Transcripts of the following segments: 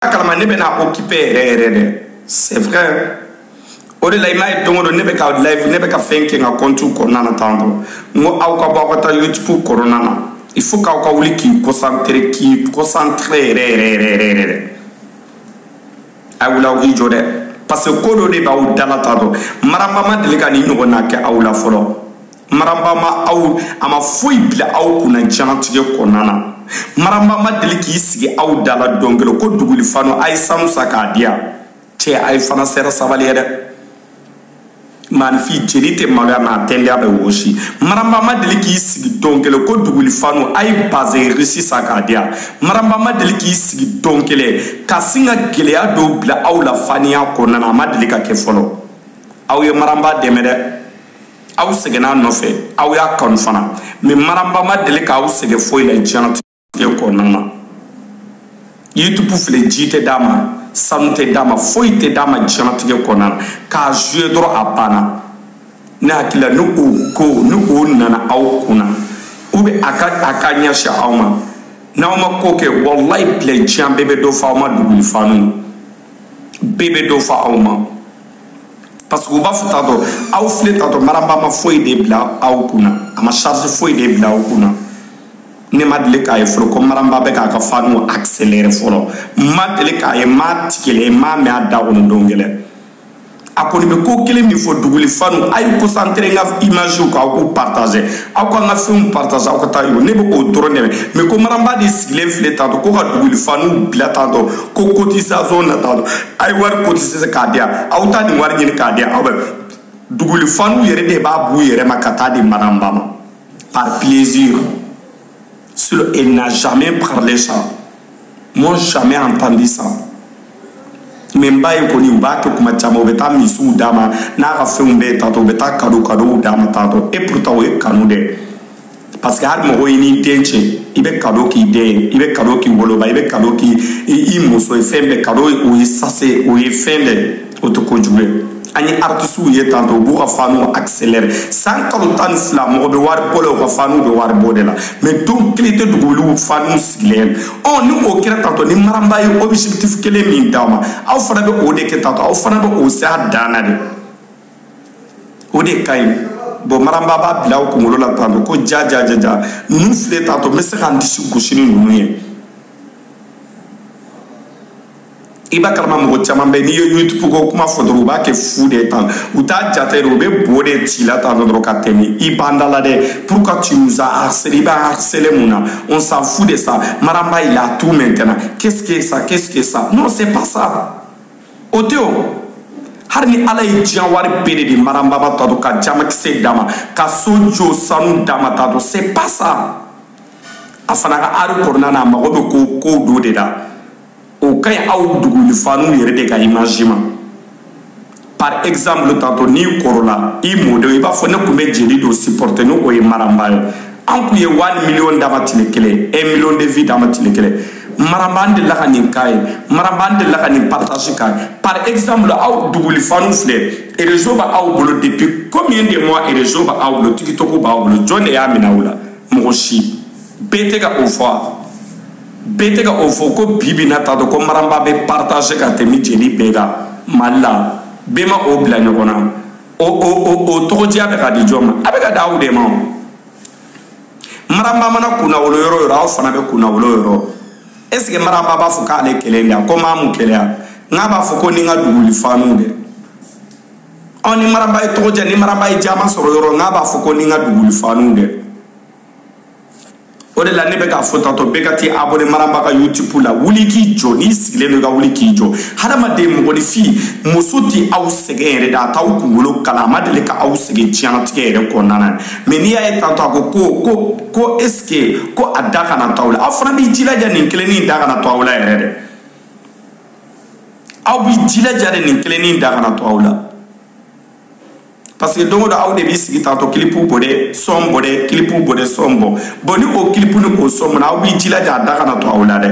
a kalama ne bɛna occupé yɛrɛ yɛrɛ dɛ c'est vrai o de la i m'a ye don o don ne bɛ ka live ne bɛ ka fɛn kɛ n ka compte kɔnɔna na tan tɔ n ko aw ka bɔ aw ka taa youtube kɔnɔna na il faut k'aw ka wuli k'i concentré k'i concentré yɛrɛ yɛrɛ yɛrɛ yɛrɛ yɛrɛ dɛ a wuli aw k'i jɔ dɛ parce que ko dɔ de b'aw da la tan tɔ maramba ma deli ka nin ɲɔgɔnna kɛ aw la fɔlɔ maramba ma aw a ma foyi bila aw kunna diɲɛnatigɛ kɔnɔna na maramba ma deli k'i sigi aw da la don kelen ko duguli fanu a ye sanu san k'a di yan cɛ a ye fana sera sabali ye dɛ maaninfin jeli tɛ maloya mɛ a tenda bɛ wɔsi maramba ma deli k'i sigi don kelen ko duguli fanu a ye bazin riche san k'a di yan maramba ma deli k'i sigi don kelen ka sin ka gɛlɛya dɔw bila aw la faniya kɔnɔna na a ma deli k'a kɛ fɔlɔ aw ye maramba dɛmɛ dɛ aw sɛgɛnna a nɔfɛ aw y'a kanu fana mɛ maramba ma deli k'aw sɛgɛn foyi la diɲɛnatigɛ kɔnɔna na youtube filɛ ji tɛ d'a ma sanu tɛ d'a ma foyi tɛ d'a ma diɲɛnatigɛ kɔnɔna na k'a jouer dɔrɔn a banna ne hakili la ni o ko ni o nana aw kun na u bɛ a ka a ka ɲɛsin aw ma n'aw ma ko kɛ walayi bilɛ diɲɛ bɛɛ bɛ dɔ fɔ aw ma duguli fanu bɛɛ bɛ dɔ fɔ aw ma parce que u b'a fɔ tantɔ aw filɛ tantɔ maramba ma foyi de bila aw kunna a ma charge foyi de bila aw kunna ne ma deli k'a ye fɔlɔ ko maramba bɛ k'a ka fanu accéléré fɔlɔ ma deli k'a ye ma tigɛlɛ ma mɛ a da kɔnɔ don kelen a kɔni bɛ ko kelen min fɔ duguli fanu a ye concentré n ka image kan aw k'u partager aw k'an ka fɛnw partager aw ka taa yɔrɔ ne bɛ k'o dɔrɔn de mɛ mɛ ko maramba de sigilen filɛ tantɔ ko ka duguli fanu bila tantɔ ko cotisation na tantɔ a ye wari cotiser k'a di yan aw taa nin wari ɲini k'a di yan aw bɛ duguli fanu yɛrɛ de b'a b'u yɛrɛ ma ka taa di maramba ma par plaisir sinon il n'a jamais parlé ça moi jamais entendu ça mais n b'a ye kɔni u b'a kɛ kuma caman u bɛ taa misiw d'a ma n'a ka fɛnw bɛɛ ye tantɔ u bɛ taa kado kadow d'a ma tantɔ et pourtant o ye kanu dɛ parce que hali mɔgɔ i n'i den cɛ i bɛ kado k'i den ye i bɛ kado k'i woloba i bɛ kado k'i i muso ye fɛn bɛɛ kado o ye sase o ye fɛn bɛɛ o tɛ ko jugu ye an ye artisiw ye tantɔ u b'u ka fanu accéléré san kalo tan ni fila mɔgɔ bɛ wari bɔ la u ka fanu bɛ wari bɔ de la mɛ don kelen tɛ duguli fanu sigilen ɔ ni o kɛra tantɔ ni maramba ye objectif kelen min d'aw ma aw fana bɛ o de kɛ tantɔ aw fana bɛ o s'a dan na de o de ka ɲi bon maramba b'a bila o kunkolo la tantɔ ko ja ja ja ja ninnu filɛ tantɔ n bɛ se ka n disi gosi ni ninnu ye i b'a kalama mɔgɔ caman bɛ nin youtube ko kuma fɔ dɔrɔn u b'a kɛ fu de tan u t'a jate de u bɛ bo de ci la tan dɔrɔn ka tɛmɛ i b'an da la dɛ pourquoi tu nous as harcelé i b'a harcelé mun na on s'en fout de ça maramba il a tout maintenant qu'est-ce que ça qu'est-ce que ça non c'est pas ça o tɛ o hali ni ala ye diɲɛ wari bɛɛ de di maramba ma tantɔ ka jaman kisɛ d'a ma ka so jɔ sanu d'a ma tantɔ c'est pas ça a fana ka art kɔnɔna na a mago bɛ ko kow dɔ de la o ka ɲi aw dugulifaniw yɛrɛ de ka image ma par exemple tantôt n'i kɔrɔla i mɔdenw i b'a fɔ ne tun bɛ jeli dɔ supporter ni o ye maramba ye an tun ye one million d'a ma tile kelen un million de vues d'a ma tile kelen maramba delila ka nin k'a ye maramba delila ka nin partage k'a ye par exemple aw duguli fanu filɛ réseau bɛ aw bolo depuis combien de mois réseau bɛ aw bolo tiktok b'aw bolo jɔn de y'a minɛ aw la mɔgɔ si bɛɛ tɛ ka o fɔ a bɛɛ tɛ ka o fɔ ko bi bi na tantɔ ko maramba bɛ partage ka tɛmɛ jeli bɛɛ kan mali la bɛɛ ma o bila ɲɔgɔn na o o o o tɔgɔdiya bɛ ka di jɔn ma a bɛ ka di aw de ma o. maramba mana kunnawolo yɔrɔ yɔrɔ aw fana bɛ kunnawolo yɔrɔ est ce que maramba b'a fɔ k'ale kelen de a ko maa mun kɛlɛya nka a b'a fɔ ko ni n ka duguli faniw dɛ ɔ ni maramba ye tɔgɔdiya ni maramba ye jama sɔrɔ yɔrɔ nka a b'a fɔ ko ni n ka duguli faniw dɛ o de la ne bɛ k'a fɔ tantɔ bɛɛ ka t'i abonné maramba ka youtube la wuli k'i jɔ n'i sigilen don i ka wuli k'i jɔ hadamaden mɔgɔninfin muso tɛ aw sɛgɛn yɛrɛ de a t'aw kunkolo kalaya a ma deli ka aw sɛgɛn diɲɛnatigɛ yɛrɛ kɔnɔna na mais n'i y'a ye tantɔ a ko ko ko ko est ce que ko a da kana to aw la aw fana b'i jilaja nin kelennin da kana to aw la yɛrɛ dɛ aw b'i jilaja de nin kelennin da kana to aw la parce que don o don aw de b'i sigi tantɔ kilipu bɔ dɛ sɔn bɔ dɛ kilipu bɔ dɛ sɔn bɔ bon ni o kilipu ni o sɔn bɔ na aw b'i jilaja a da kana to aw la dɛ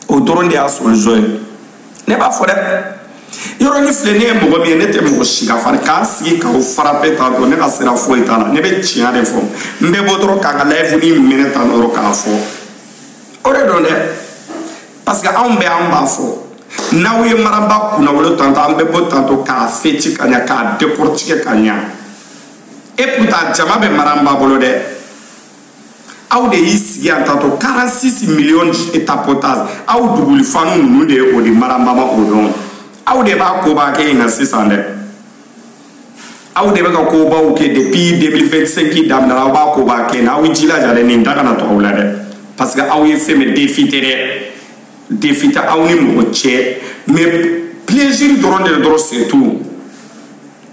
o dɔrɔn de y'a solution ye ne b'a fɔ dɛ yɔrɔ nin filɛ ne ye mɔgɔ min ye ne tɛ mɔgɔ si ka fari ka n sigi k'aw frapper tantɔ ne ka sira foyi t'a la ne bɛ tiɲɛ de fɔ n bɛ bɔ dɔrɔn k'a ka live nin minɛ tan dɔrɔn k'a fɔ o de don dɛ parce que anw bɛ an b'a fɔ n'aw ye maramba kunnawolo tantɔ an bɛ bɔ tantɔ k'a fêter ka ɲa k'a décortiquer ka ɲa et pourtant jama bɛ maramba bolo dɛ aw de y'i sigi yan tantɔ 46 millions tapotage aw duguli fanu ninnu de ye o di maranba ma o dɔn aw de b'a koba kɛ in na sisan dɛ aw de bɛ ka kobaw kɛ depuis 2025 daminɛna aw b'a koba kɛ na aw jilaja dɛ nin da kana to aw la dɛ parce que aw ye fɛn bɛ défi tɛ dɛ défi tɛ aw ni mɔgɔ cɛ mais plaisir dɔrɔn de dɔrɔn c'est tout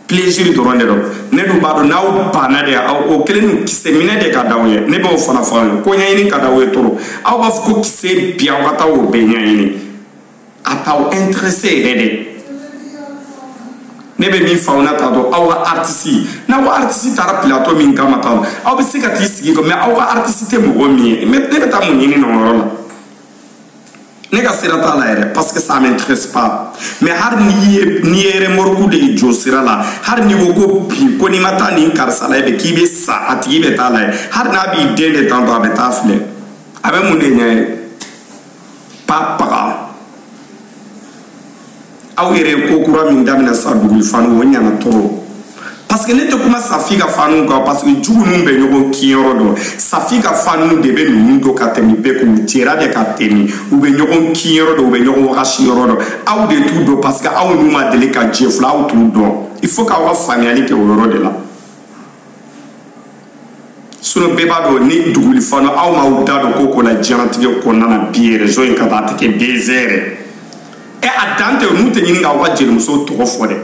plaisir dɔrɔn de don ne dun b'a dɔn n'aw banna de aw o kelen ni kisɛ minɛ de ka d'aw ye ne b'o fana fɔ aw ye ko ɲɛɲini ka d'aw ye trop aw b'a fɔ ko kisɛ bi aw ka taa o bɛɛ ɲɛɲini a t'aw intéressé yɛrɛ de ne bɛ min fɔ aw na t'a dɔn aw ka artiste n'aw ka artiste taara plateau min kama t'a dɔn aw bɛ se ka t'i sigi kɔ mais aw ka artiste tɛ mɔgɔ min ye ne bɛ taa mun ɲini o yɔrɔ la ne ka sira t'a la yɛrɛ parce que ça m'intéresse pas mais hari n'i ye n'i ye remorque de ye jɔ sira la hari n'i ko ko bi ko n'i ma taa nin karisa lajɛ bi k'i bɛ sa a tigi bɛ taa lajɛ hari n'a b'i den de tantɔ a bɛ taa filɛ a bɛ mun de ɲɛ ye pa paga aw yɛrɛ ye ko kura min daminɛ sa duguli fanu o ɲana trop parce que ne tɛ kuma safi ka fanu kan parce que jugu ninnu bɛ ɲɔgɔn kinyɔrɔ dɔn safi ka fanu de bɛ ninnu dɔn ka tɛmɛ bɛɛ k'u jɛra de ka tɛmɛ u bɛ ɲɔgɔn kinyɔrɔ dɔn u bɛ ɲɔgɔn wagasi yɔrɔ dɔn aw de t'u dɔn parce que aw n'u ma deli ka jɛ fila aw t'u dɔn il faut k'aw ka faamuyali kɛ o yɔrɔ de la sinon bɛɛ b'a dɔn ni duguli fanu aw m'aw da don ko ko la diɲɛnatigɛ kɔnɔna na bi réseau in kan a tɛ kɛ buzz yɛrɛ ɛ a dan tɛ n'u tɛ ɲini k'aw ka jelimuso tɔgɔ fɔ dɛ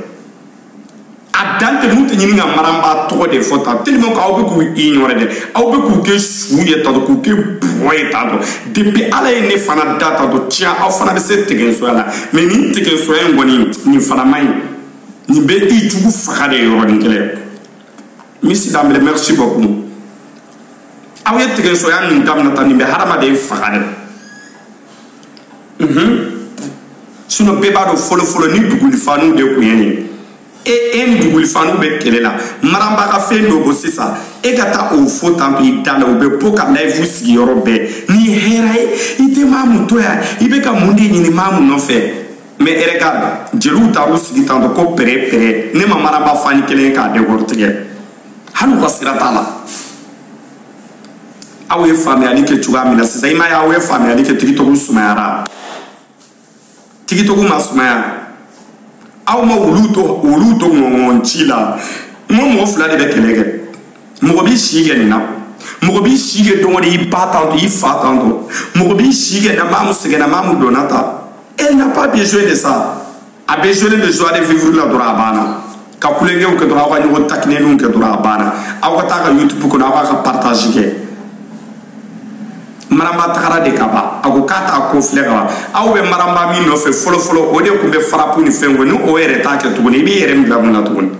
a dan tɛ n'u tɛ ɲini ka maranba tɔgɔ de fɔ tan tellement ko aw bɛ k'u ignorer dɛ aw bɛ k'u kɛ su ye tantɔ k'u kɛ bɔgɔ ye tantɔ depuis ala ye ne fana da tantɔ tiɲɛ aw fana bɛ se tigɛsoya la mais nin tigɛsoya in kɔni nin fana man ɲi nin bɛ i jugu faga de yɔrɔnin kelen monsieur danbele merci beaucoup aw ye tigɛsoya min daminɛ tan nin bɛ hadamaden faga de unhun sinon bɛɛ b'a dɔn fɔlɔfɔlɔ ni duguli fanu de tun ye nin ye e e ni duguli fanu bɛ kɛlɛ la maranba ka fɛn dɔ bɔ sisan e ka taa o fɔ tan to i da la u bɛ bɔ ka live sigiyɔrɔ bɛɛ n'i hɛrɛ ye i tɛ mamu to yan i bɛ ka mun de ɲini mamu nɔfɛ mais regarde jeliw taar'u sigi tantɔ ko pere pere ne ma maranba fan kelen ye k'a décortiquer hali u ka sira t'a la aw ye faamuyali kɛ cogoya min na sisan i m'a ye aw ye faamuyali kɛ tiktok sumayara tiktok ma sumaya aw ma wulu to wulu to ɲɔgɔn ci la n ko mɔgɔ fila de bɛ kɛlɛ kɛ mɔgɔ b'i si kɛ nin na mɔgɔ b'i si kɛ don o don i ba tantɔ i fa tantɔ mɔgɔ b'i si kɛ na mamu sɛgɛnna mamu dɔnna ta elle n'a pas besoin de ça a besoin de joie de vivre la dɔrɔn a banna ka tulonkɛw kɛ dɔrɔn aw ka ɲɔgɔn takineninw kɛ dɔrɔn a banna aw ka taa ka youtube kɔnɔ aw b'a ka partage kɛ maramba tagara de ka ban a ko k'a t'a ko filɛ ka ban aw bɛ maramba min nɔfɛ fɔlɔfɔlɔ o de tun bɛ farapu ni fɛn kɔ ni o yɛrɛ t'a kɛ tuguni i b'i yɛrɛ min bila mun na tuguni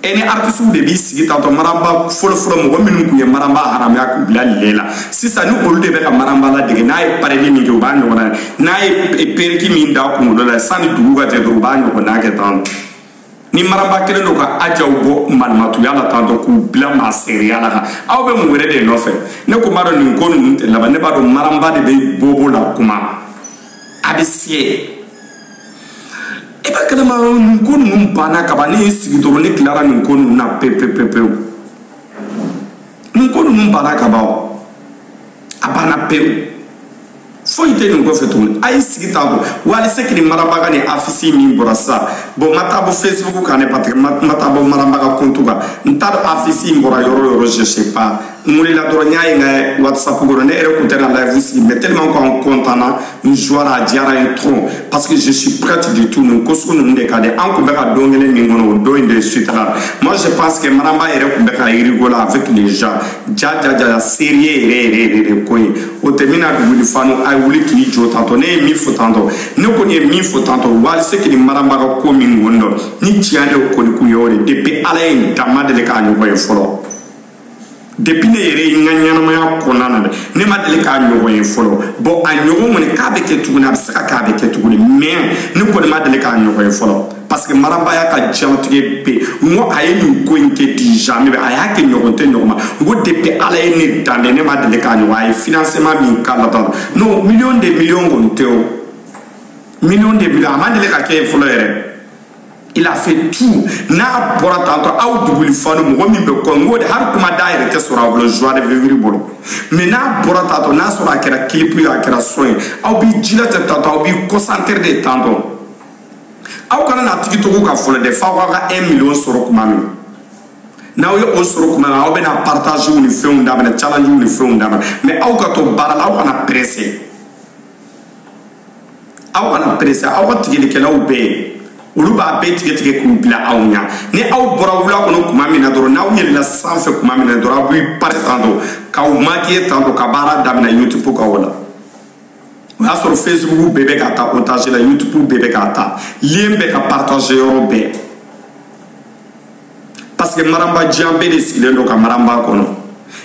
e ni artisiw de b'i sigi tantɔ maranba fɔlɔfɔlɔ mɔgɔ minnu tun ye maranba haramuya k'u bila le la sisan ni olu de bɛ ka maranba ladege n'a ye pareli min kɛ u b'a ɲɔgɔnna ye n'a ye perruque min da kunkolo la sanni dugu ka jɛ dɔrɔn u b'a ɲɔgɔnna kɛ tan ni maranba kelen don ka ajaw bɔ malimatuya la tantɔ k'u bila masiriya la kan aw bɛ mun wɛrɛ de nɔfɛ ne kun b'a dɔn nin ko ninnu tɛ laban ne b'a dɔn maranba de bɛ bobo la kuma a bɛ siyɛ e b'a kalama nin ko ninnu banna kaban ne y'i sigi dɔrɔn ne tilara nin ko ninnu na pepepepewu nin ko ninnu banna kaban o a banna pewu foyi tɛ nin kɔfɛ tuguni a y'i sigi t'a bɔ wally seck ni maramba ka nin afisi min bɔra sisan bɔn n ma taa bɔ facebook kan ne patike n ma taa bɔ maramba ka kontu kan n t'a dɔn afisi in bɔra yɔrɔ yɔrɔ je sais pas n wulila dɔrɔn n y'a ye n ka whatsapp kɔnɔ ne yɛrɛ kun tɛna live sigi mais tellement ko an contana n joira a diyara n trop parce que je suis prête du tout nin ko sugu ninnu de ka di an kun bɛ ka don kelen min kɔnɔ o don in de sutara moi je pense que maramba yɛrɛ kun bɛ ka rigoler avec les gens ja ja ja sérieux yɛrɛ yɛrɛ yɛrɛ de ko ye o tɛ min na wuli fanw a ye wuli k'i jɔ tantɔ ne ye min fɔ tantɔ ne kɔni ye min fɔ tantɔ wally seck ni maramba ka ko min kɔni dɔn ni tiɲɛ de kɔni kun ye o de depuis ala ye n dan n ma deli k'a ɲɔgɔn ye fɔlɔ depuis ne yɛrɛ n ka ɲɛnamaya kɔnɔna na dɛ ne ma deli k'a ɲɔgɔn ye fɔlɔ bɔn a ɲɔgɔn kɔni k'a bɛ kɛ tuguni a bɛ se ka kɛ a bɛ kɛ tuguni mais ne kɔni ma deli k'a ɲɔgɔn ye fɔlɔ parce que maramba y'a ka diɲɛlatigɛ bɛɛ n ko a ye nin ko in kɛ déjà mais a y'a kɛ ɲɔgɔn tɛ ɲɔgɔn ma n ko depuis ala ye ne dan dɛ ne ma deli k'a ɲɔgɔn a ye financement min k'a la dɔrɔn non million de million kɔni tɛ o million de million a ma deli ka kɛ ye fɔlɔ yɛrɛ il a fait tout n'a bɔra tantɔ aw duguli falo mɔgɔ min bɛ kɔ n ko dɛ hali kuma da yɛrɛ tɛ sɔrɔ a bolo joie de vivre bolo mais n'a bɔra tantɔ n'a sɔrɔ a kɛra clip ye a kɛra son ye aw b'i jilaja tantɔ aw b'i concentre de tantɔ aw kana na tiktok kan fɔlɔ dɛ f'aw k'a ka 1 million sɔrɔ kuma min n'aw ye o sɔrɔ kuma na aw bɛna partagew ni fɛnw daminɛ challengew ni fɛnw daminɛ mais aw ka to baara la aw kana presse aw kana perese aw ka tigɛlikɛlaw bɛ yen olu b'a bɛɛ tigɛ tigɛ k'u bila aw ɲa ni aw bɔra wula kɔnɔ kuma min na dɔrɔn n'aw yɛlɛla sanfɛ kuma min na dɔrɔn aw b'i pare tantɔ k'aw makiye tantɔ ka baara daminɛ youtube kan o la o y'a sɔrɔ facebook bɛɛ bɛ ka ta otage la youtube bɛɛ bɛ ka ta lien bɛ ka partage yɔrɔ bɛɛ parce que maramba diɲɛ bɛɛ de sigilen don ka maramba kɔnɔ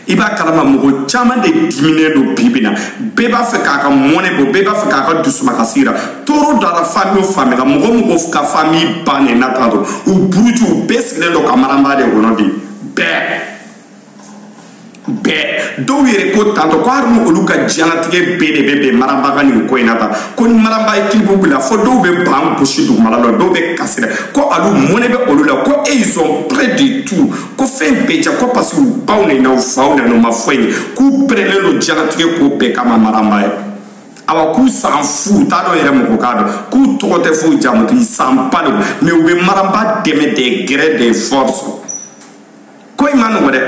i b'a kalama mɔgɔ caman de diminen don bibi na bɛɛ b'a fɛ k'a ka mɔnɛ bɔ bɛɛ b'a fɛ k'a ka dusumakasi yira tɔɔrɔ dara famille o famille kan mɔgɔ o mɔgɔ ka famille bannen na tantɔ u buruju u bɛɛ sigilen don ka maramba de kɔnɔ bi bɛɛ bɛɛ dɔw yɛrɛ ko tantɔ ko hali ni olu ka diɲɛlatigɛ bɛɛ de bɛ bɛn maramba ka nin ko in na tan ko ni maramba ye clip bila fɔ dɔw bɛ ban gosi dugumala la dɔw bɛ kasi la ko alu mɔnɛ bɛ olu la ko e ils sont prêts de tout ko fɛn bɛɛ ja ko parce que u baw ni n'aw faw na n'u ma fɔ ye k'u pɛrɛnnen don diɲɛlatigɛ ko bɛɛ kama maramba ye awa k'u san fu t'a dɔn yɛrɛ mɔgɔ k'a dɔn k'u tɔgɔ tɛ fo jamu k'i san ba de mais u bɛ maramba dɛmɛ de gré de force ko in man nɔgɔ dɛ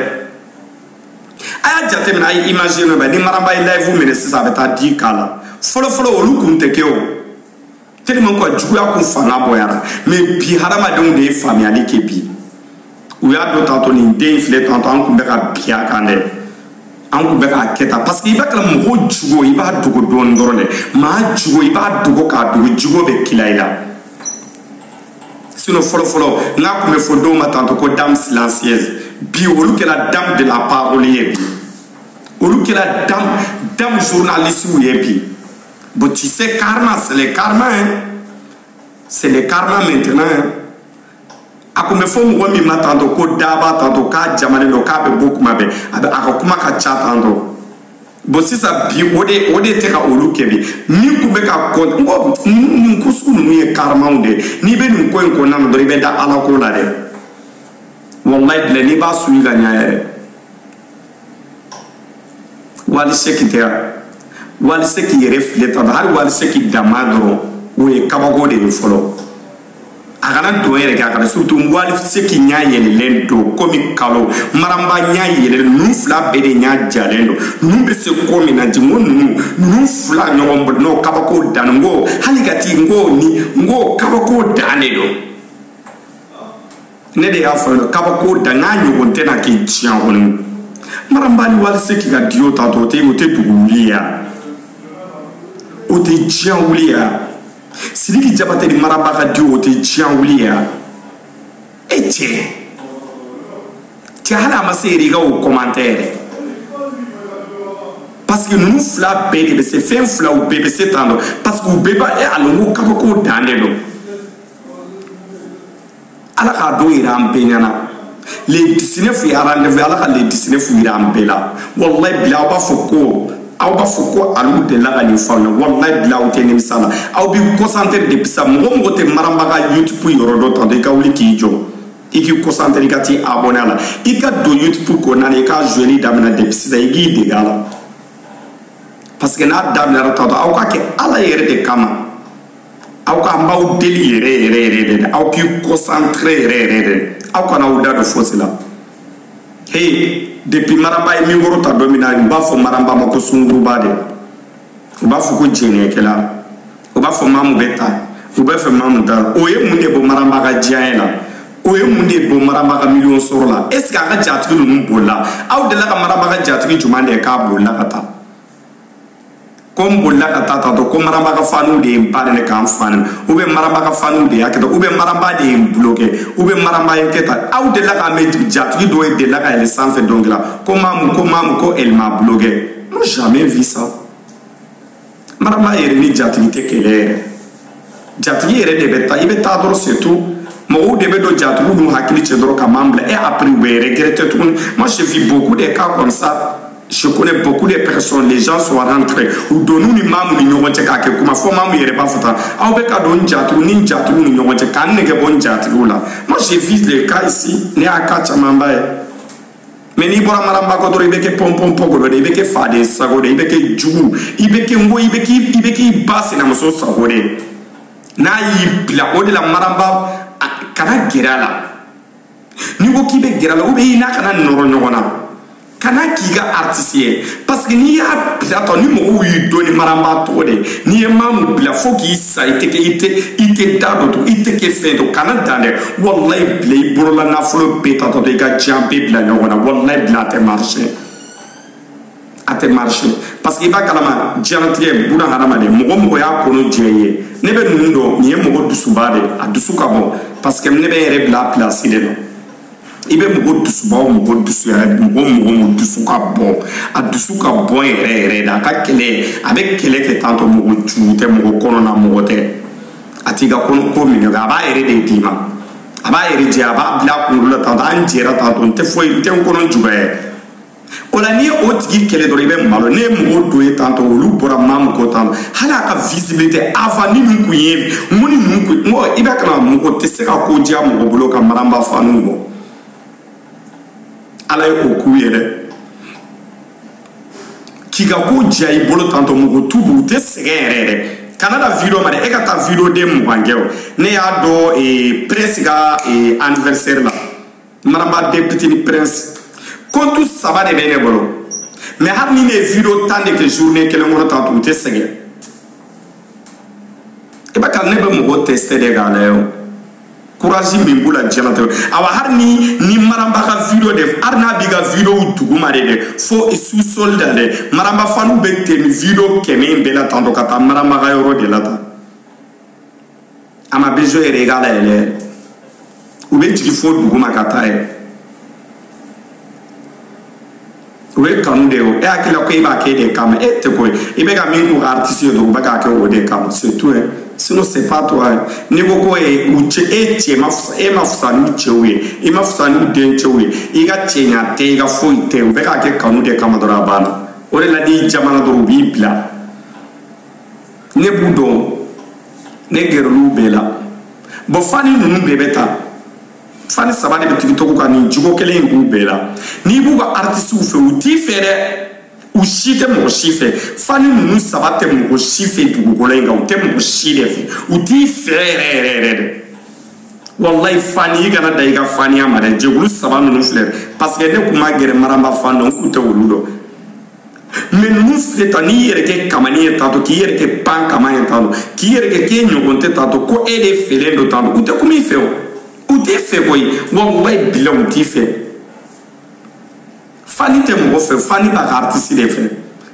a y'a jateminɛ a ye imaginer nɔ bɛ ni maramba ye live minɛ sisan a bɛ taa dix k la fɔlɔfɔlɔ olu kun tɛ kɛ o tellement ko juguya kun fanga bonyara mais bi hadamadenw de ye faamuyali kɛ bi u y'a dɔn tantɔ nin den in filɛ tantɔ an kun bɛ ka bin a kan dɛ an kun bɛ k'a kɛ tan parce que i b'a kalama mɔgɔ jugu i b'a dogo dɔɔni dɔrɔn dɛ maa jugu i b'a dogo k'a dogo jugu bɛ kila i la sinon fɔlɔfɔlɔ n'a kun bɛ fɔ dɔw ma tantɔ ko dame silencieuse bi olu kɛra dame de la parole ye bi olu kɛra dame dame journaliste ye bi bon tu sais karma c'est le karma hein c'est le karma maintenant hein a kun bɛ fɔ mɔgɔ min ma tantɔ ko daba tantɔ k'a jamalen don k'a bɛ bɔ kuma bɛɛ a bɛ a ka kuma ka ca tantɔ bon sisan bi o de o de tɛ ka olu kɛ bi min kun bɛ ka kɔ n ko nin ko sugu ninnu ye karmaw de ye n'i bɛ nin ko in kɔnɔna na dɔrɔn i bɛ da ala ko la dɛ walayi bilayi n'i b'a suivre ka ɲa yɛrɛ wali seki tɛ yan wali seki yɛrɛ filɛ tan hali wali seki dama dɔrɔn o ye kabako de ye fɔlɔ a kana don yɛrɛ kɛ a kana surtout wali seki ɲa yɛlɛlen don komi kalo maramba ɲa yɛlɛlen ninnu fila bɛɛ de ɲa jalen don ninnu bɛ se ko min na ji n ko ninnu ninnu fila ɲɔgɔn bolo n'o kabako dan n ko hali ka ti n ko ni n ko kabako dan de don ne de y'a fɔ yen kabako dan n k'a ɲɔgɔn tɛ na kɛ diɲɛ kɔnɔ maramba ni wali seki ka duo tantɔ o tɛ o tɛ dugu wuli ya o tɛ diɲɛ wuli ya. sidiki jabate ni maramba ka duo tɛ diɲɛ wuli ya e cɛ cɛ hali a ma se yɛrɛ i ka o commentaire parce que ninnu fila bɛɛ de bɛ se fɛn fila u bɛɛ bɛ se tantɔ parce que u bɛɛ b'a ye a lonko kabako dan de don ala k'a don yira an bɛɛ ɲɛna le 19 ye rendez-vous ala ka le 19 yira an bɛɛ la walayi bila aw b'a fɔ ko aw b'a fɔ ko alu delila ka nin fɔ aw ye walayi bila aw tɛ nimisa la aw b'i concentré depuis sa mɔgɔ mɔgɔ tɛ maramba ka youtube yɔrɔ dɔn tantɔ i ka wuli k'i jɔ i k'i concentré i ka t'i abonné a la i ka don youtube kɔnɔna na i ka joueli daminɛ depuis sisan i k'i dege a la parce que n'a daminɛra tantɔ aw ka kɛ ala yɛrɛ de kama aw ka an b'aw deli yɛrɛ yɛrɛ yɛrɛ de la aw k'i concentré yɛrɛ yɛrɛ de aw kana aw da don fosi la hey depuis maramba ye mikoro ta don min na u b'a fɔ maramba ma ko sunguruba de u b'a fɔ ko jɛnɛkɛla u b'a fɔ maamu bɛ tan u b'a fɔ maamu tan o ye mun de bɔ maramba ka diɲɛ la o ye mun de bɔ maramba ka miliyɔn sɔrɔ la est ce que a ka jatigi ninnu bolila aw delila ka maramba ka jatigi jumɛn de ye k'a bolila ka taa ko n bolila ka taa tantɔ ko maramba ka faniw de ye n ba nɛni ka n fa nɛni ou bien maramba ka faniw de y'a kɛ tan ou bien maramba de ye n bloqué ou bien maramba y'a kɛ tan aw delila k'a mɛn jatigi dɔ ye delila ka yɛlɛn sanfɛ dɔnkili la ko maamu ko maamu ko elle m'a bloqué non jamais vu ça maramba yɛrɛ ni jatigi tɛ kɛlɛ yɛrɛ jatigi yɛrɛ de bɛ taa i bɛ taa dɔrɔn surtout mɔgɔw de bɛ don jatigiw n'u hakili cɛ dɔrɔn ka maa bila et après u bɛ regretter tuguni moi j'ai vu beaucoup de cas comme ça je connais beaucoup de personnes les gens sont rentrés u don u ni maamu ni ɲɔgɔn cɛ k'a kɛ kuma fo maamu yɛrɛ b'a fɔ tan aw bɛ ka don n jatigiw ni n jatigiw ni ɲɔgɔn cɛ ka n nege bɔ n jatigiw la moi j'ai vu les cas ici ne y'a cas camanba ye mais n'i bɔra maramba kɔ dɔrɔn i bɛ kɛ ponponpogolo de i bɛ kɛ faden sago de i bɛ kɛ jugu i bɛ kɛ n ko i bɛ k'i i bɛ k'i ba sinamuso sago de n'a y'i bila o de la maramba kana gɛrɛ a la n'i ko k'i bɛ gɛrɛ a la ou bien i n'a kana nɔrɔ ɲɔgɔn na kana k'i ka aritisi ye parce que n'i y'a bila tan ni mɔgɔw y'i dɔn ni maramba tɔgɔ de ye n'i ye maamu bila fo k'i sa i tɛ kɛ i tɛ i tɛ da dɔ to i tɛ kɛ fɛn dɔ kana dan dɛ walayi bila i bolola nafolo bɛɛ ta tantɔ i ka diɲɛ bɛɛ bila ɲɔgɔn na walayi bila a tɛ marché a tɛ marché parce que i b'a kalama diɲɛlatigɛ buna hadamaden mɔgɔ mɔgɔ y'a kɔnɔ jɛ i ye ne bɛ ninnu dɔn nin ye mɔgɔ dusuba de ye a dusu ka bon parce que ne bɛ n yɛrɛ bila a pilasi de la i bɛ mɔgɔ dusuba o mɔgɔ dusu yɛrɛ mɔgɔ mɔgɔ mɔgɔ dusu ka bon a dusu ka bon yɛrɛ yɛrɛ de a ka kɛlɛ a bɛ kɛlɛ kɛ tantɔ mɔgɔ jugu tɛ mɔgɔ kɔnɔ na mɔgɔ tɛ a t'i ka ko ko minɛ a b'a yɛrɛ de d'i ma a b'a yɛrɛ jɛ a b'a bila a kunkolo la tantɔ an jɛra tantɔ n tɛ foyi n tɛ n kɔnɔ juguya ye o la n'i ye o tigi kɛlɛ dɔrɔn i bɛ malo ne ye mɔgɔw don ye tantɔ olu bɔra maa min kɔ tantɔ hali a ka visibilité avant ni min kun ye mun ni mun kun n ko i b'a kalama mɔgɔ tɛ se ka ko diya mɔgɔ bolo ka maramba fanu bɔ ala ye o k'u ye dɛ k'i ka ko diya i bolo tantɔ mɔgɔ t'u bɔ u tɛ sɛgɛn yɛrɛ yɛrɛ kana da video ma dɛ e ka taa video den mugan kɛ o ne y'a dɔn prince ka anniversaire la maramba den pitini prince compte saba de bɛ ne bolo mais hali ni ne ye video tan de kɛ journée kelen kɔnɔ tantɔ u tɛ sɛgɛn i b'a kalama ne bɛ mɔgɔ tester de k'a lajɛ o courage min b'u la diɲɛlatigɛ awa hali ni ni maramba ka video de hali n'a b'i ka videow duguma de dɛ fo sous-sol la dɛ maramba faniw bɛ tɛmɛ video kɛmɛ in bɛɛ la tantɔ ka taa maramba ka yɔrɔ de la tan a ma besoin yɛrɛ i k'a layɛlɛ yɛrɛ u bɛ jigin fo duguma ka taa yɛrɛ o ye kanu de ye o e hakili la ko e b'a kɛ e de kama e tɛ ko ye i bɛ ka min k'u ka artiste ye dɔrɔn u bɛ k'a kɛ o de kama c'est tout hein sinon c'est pas toi hein n'i ko ko e u cɛ e cɛ ma fisa e ma fisa n'u cɛw ye i ma fisa n'u dencɛw ye i ka cɛɲa tɛ i ka foyi tɛ u bɛ k'a kɛ kanu de kama dɔrɔn a banna o de la n'i jamana dɔrɔn u b'i bila ne b'u dɔn ne gɛrɛl'u bɛɛ la bon fani ninnu bɛɛ bɛ tan fani saba de bɛ tiktok kan nin jogo kelen in b'u bɛɛ la n'i b'u ka artistes fɛ u t'i fɛ dɛ u si tɛ mɔgɔ si fɛ fani ninnu saba tɛ mɔgɔ si fɛ dugukolo in kan u tɛ mɔgɔ si de fɛ u t'i fɛ yɛrɛ yɛrɛ yɛrɛ dɛ walayi fani i kana da i ka faniya ma dɛ jɛkulu saba ninnu filɛ parce que ne tun ma gɛrɛ maramba fan dɔn n kun tɛ olu dɔn mais ninnu filɛ tan n'i yɛrɛ kɛ kamani ye tantɔ k'i yɛrɛ kɛ pan kama ye tantɔ k'i yɛrɛ kɛ k'e ɲɔgɔn tɛ tantɔ ko e de feerelen don tantɔ u tɛ kuma i fɛ o u t'i fɛ koyi walayi bila u t'i fɛ fani tɛ mɔgɔ fɛ fani b'a ka artiste de fɛ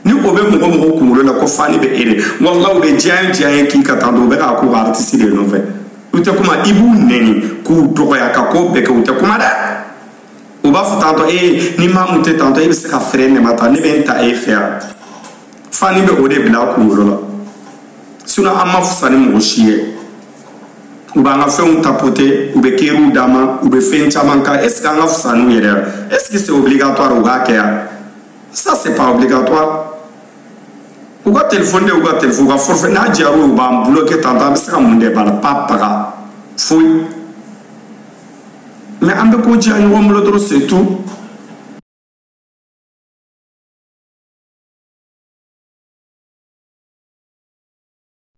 ni o bɛ mɔgɔ mɔgɔ kunkolo la ko fani bɛ e de walayi u bɛ diya diya ye k'i ka tantɔ u bɛ k'a k'u ka artiste de nɔfɛ u tɛ kuma i b'u nɛni k'u dɔgɔya ka ko bɛɛ kɛ u tɛ kuma dɛ u b'a fɔ tantɔ ee ni maa mun tɛ tantɔ e bɛ se ka fɛrɛ nɛma ta ne bɛ n ta e fɛ yan fani bɛ o de bila a kunkolo la sinon an ma fisa ni mɔgɔ si ye u b'an ka fɛnw tapoter u bɛ cœurw d'an ma u bɛ fɛn caman kan est ce que an ka fisa n'u yɛrɛ ye est ce que c'est obligatoire u k'a kɛ yan ça c'est pas obligatoire u ka telefɔni de u ka telefɔni u ka forfait n'a diyar'u ye u b'an bloquer tantɔ an bɛ se ka mun de b'a la pas paga foyi. mais an bɛ ko diya ɲɔgɔn bolo dɔrɔn c'est tout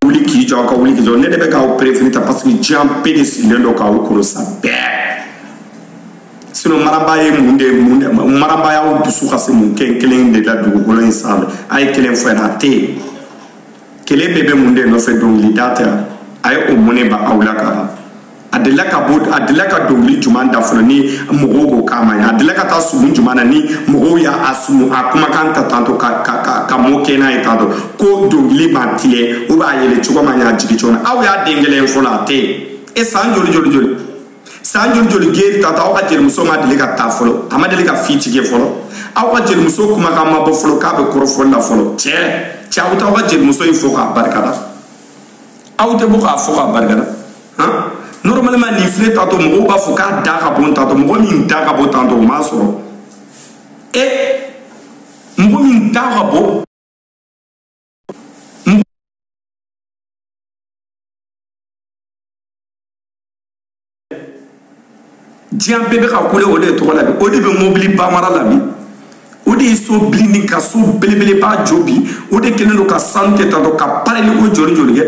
wuli k'i jɔ aw ka wuli k'i jɔ ne de bɛ k'aw préféré ta parce que diɲɛ bɛɛ de sigilen don k'aw kɔrɔ sa bɛɛ sinon mariam ba ye mun de mun de mariam ba y'aw dusu kasi mun kelen kelen de la dugukolo in sanfɛ a ye kelen fɔ yen a tɛ yen kelen bɛɛ bɛ mun de nɔfɛ dɔnkilida tɛ a ye o mɔnɛ b'aw la ka ban a delila ka bɔ a delila ka dɔnkili juman da fɔlɔ ni mɔgɔw ko k'a ma ɲi a delila ka taa sumu juman na ni mɔgɔw y'a a sumu a kumakan ta tantɔ ka ka ka ka moquer n'a ye tantɔ ko dɔnkili ma tigɛ ou bien a yɛlɛ cogo ma ɲɛ a jigin cogo na aw y'a den kelen fɔlɔ a tɛ yen e san joli joli joli san joli joli geri ta ta aw ka jelimuso ma deli ka taa fɔlɔ a ma deli ka fi tigɛ fɔlɔ aw ka jelimuso kumakan ma bɔ fɔlɔ k'a bɛ kɔrɔfɔli la fɔlɔ cɛ cɛ aw bɛ taa aw ka jelimuso in fo k'a barikada aw tɛ bɔ k'a fo k'a barikada han normalement nin filɛ tatɔ mɔgɔw b'a fɔ k'a da ka bon tantɔ mɔgɔ min da ka bon tantɔ o m'a sɔrɔ e mɔgɔ min da ka bon diɲɛ bɛɛ bɛ ka kule o de ye tɔgɔ la bi o de bɛ mobiliba mara la bi o de ye so bilenni ka so belebeleba jɔ bi o de kɛlen don ka sanu kɛ tantɔ ka pareli ko joli joli kɛ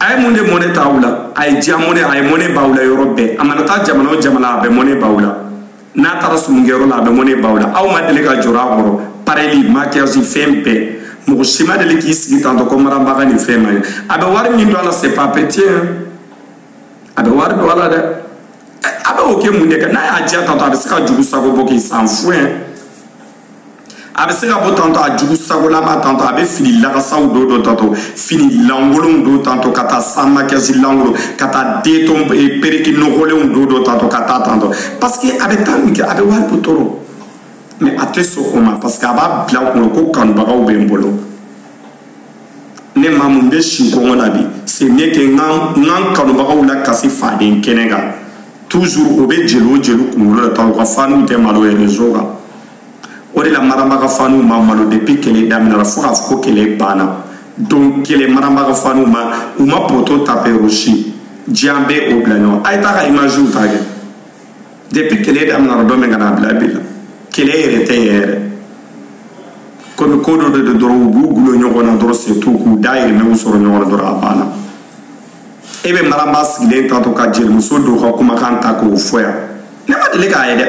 a ye mun de mɔnɛ to aw la a ye diya mɔnɛ a ye mɔnɛ b'aw la yɔrɔ bɛɛ a mana taa jamana o jamana a bɛ mɔnɛ b'aw la n'a taara sumukɛyɔrɔ la a bɛ mɔnɛ b'aw la aw ma deli ka jɔrɔ a kɔrɔ pareli maquillage fɛn bɛɛ mɔgɔ si ma deli k'i sigi tantɔ ko mariam ba ka nin fɛn ma ɲɛ a bɛ wari min don a la c'est pas petit a bɛ wari don a la dɛ a bɛ o kɛ mun de kan n'a y'a diya tantɔ a bɛ se ka jugu sago bɔ k'i san fuen a bɛ se ka bɔ tantɔ a jugu sagolama tantɔ a bɛ fini lakasaw don don tantɔ fini lankolonw don tantɔ ka taa sans maquillage lankolon ka taa deton eh, pereki nɔgɔlenw don don tantɔ ka taa tantɔ parce que a bɛ taa min kɛ a bɛ wari bɔ tɔɔrɔ mais a tɛ sɔn o ma parce que a b'a bila kunna ko kanubagaw bɛ n bolo ne maa mun bɛ si kɔngɔ la bi c'est mieux que n ka n kanubagaw lakasi faden kɛnɛ kan toujours o bɛ jeli o jeli kunkolo la tan u ka faniw tɛ malo ye réseau kan o de la mariam ba ka faniw ma malo depuis kɛlɛ daminɛra fo k'a fɔ ko kɛlɛ banna donc kɛlɛ mariam ba ka faniw ma u ma poto tape rosi diɲɛ bɛ o bila ɲɔgɔn a ye taa ka imagew ta kɛ depuis kɛlɛ daminɛra don min ka na bila bi la kɛlɛ yɛrɛ tɛ yɛrɛ komi ko dɔ de don dɔrɔn u b'u gulo ɲɔgɔn na dɔrɔn c'est tout k'u dayirimɛw sɔrɔ ɲɔgɔn na dɔrɔn a banna e bɛ mariam ba sigilen tantɔ ka jelimuso dɔw ka kumakan ta k'o fɔ yan ne ma deli k'a ye dɛ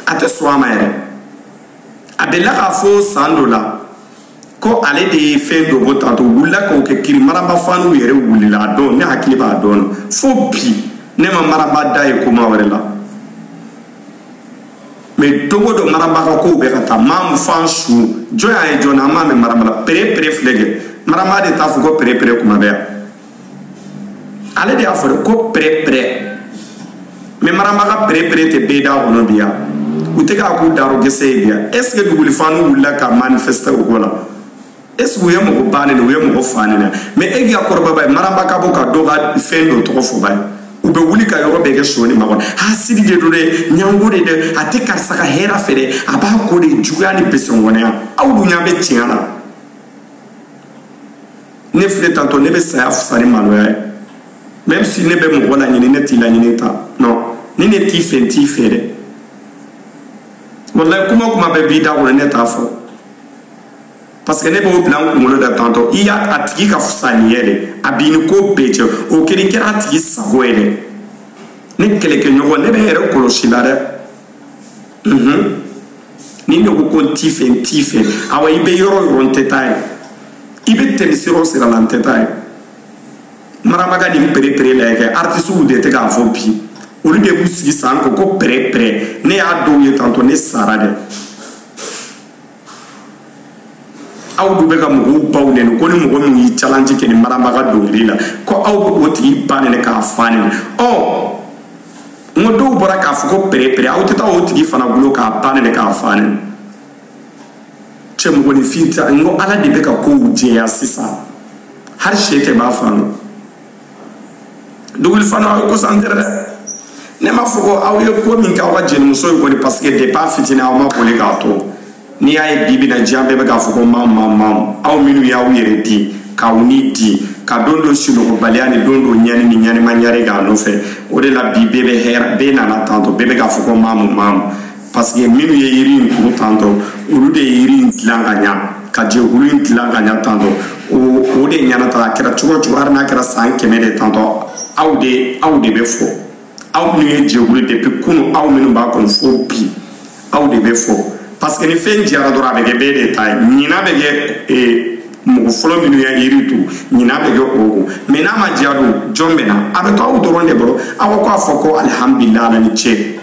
a tɛ sɔn a ma yɛrɛ a delila k'a fɔ san dɔ la ko ale de ye fɛn dɔ bɔ tantɔ wulila k'o kɛ kiri maramba faniw yɛrɛ wulila a don ne hakili b'a don na fo bi ne ma maramba da ye kuma wɛrɛ la mɛ don go don maramba ka kow bɛ ka taa mam fansu jɔn y'a ye jɔn na an m'a mɛn maramba la pere pere filɛ kɛ maramba de t'a fɔ ko pere pere kuma bɛ yan ale de y'a fɔ de ko pɛrɛpɛrɛ mɛ maramba ka pɛrɛpɛrɛ tɛ bɛɛ da kɔnɔ bi ya u tɛ k'a k'u darɔ gɛsɛ ye bi ya est ce que duguli fanw wulila ka manifeste u ko la est ce que u ye mɔgɔ ba nɛni wa u ye mɔgɔ fa nɛni wa mɛ e k'i ka kɔrɔbaba ye maramba ka bɔ ka dɔ ka fɛn dɔ tɔgɔ fɔba ye u bɛ wuli ka yɔrɔ bɛɛ kɛ soni ma kɔnɔ hasidi de don dɛ ɲango de dɛ a tɛ karisa ka hɛrɛ fɛ dɛ a b'a ko de juguya ɲini besengɔnɛya aw dun ɲa bɛ tiɲɛ la ne filɛ tantɔ ne bɛ saya fisa ni maloya ye même si ne bɛ mɔgɔ laɲini ne t'i laɲini ta non ni ne t'i fɛ n t'i fɛ dɛ walayi kuma kuma bɛɛ b'i da kɔnɔ ne t'a fɔ parce que ne b'o bila n kunkolo la tantɔ i y'a a tigi ka fisa n'i ye de a b'i ni ko bɛɛ cɛ o kɛra i kɛra a tigi sago ye dɛ ne kɛlɛkɛɲɔgɔn ne bɛ n yɛrɛ kɔlɔsi i la dɛ ni ne ko ko n t'i fɛ n t'i fɛ awa i bɛ yɔrɔ o yɔrɔ n tɛ taa yen i bɛ tɛmɛ sira o sira la n tɛ taa yen maramba ka nin perepere la kɛ artisiw de tɛ k'a fɔ bi olu de b'u sigi san ko ko pɛrɛpɛrɛ ne y'a dɔw ye tantɔ ne sara dɛ aw dun bɛ ka mɔgɔw baw nɛni ko ni mɔgɔ min ye challenge kɛ ni maramba ka dɔnkili la ko aw bɛ o tigi ba nɛni k'a fa nɛni ɔ n ko dɔw bɔra k'a fɔ ko perepere aw tɛ taa o tigi fana kulo k'a ba nɛni k'a fa nɛni cɛ mɔgɔninfin ta n ko ala de bɛ ka kow jɛya sisan hali sɛden b'a faamu duguli fanw aw ye concentrer dɛ ne m'a fɔ ko aw ye ko min kɛ aw ka jelimuso ye kɔni parce que depuis a fitinin aw ma boli k'a to n'i y'a ye bi bi in na diɲɛ bɛɛ bɛ k'a fɔ ko mam mam mam aw minnu y'aw yɛrɛ di k'aw ni di ka don don sunɔgɔbaliya ni don don ɲani ni ɲanima ɲare k'a nɔfɛ o de la bi bɛɛ bɛ hɛrɛ bɛɛ nana tantɔ bɛɛ bɛ k'a fɔ ko mamu mamu paseke minnu ye yiri in turu tantɔ olu de ye yiri in dilan ka ɲa ka jɛkulu in dilan ka ɲa tantɔ o o de ɲana ta a kɛra cogo o cogo hali n'a kɛra san kɛmɛ de tantɔ aw de aw de bɛ fɔ aw minnu ye jɛkulu depuis kunu aw minnu b'a kɔnɔ fo bi aw de bɛ fɔ paseke ni fɛn diyara dɔrɔn a bɛ kɛ bɛɛ de ta ye ɲina bɛ kɛ ee mɔgɔ fɔlɔ minnu ye yiri turu ɲina bɛ kɛ o kɔ mɛ n'a ma diya dun jɔn bɛ na a bɛ to aw dɔrɔn de bolo aw ko a fɔ ko alihamudulila ala ni ce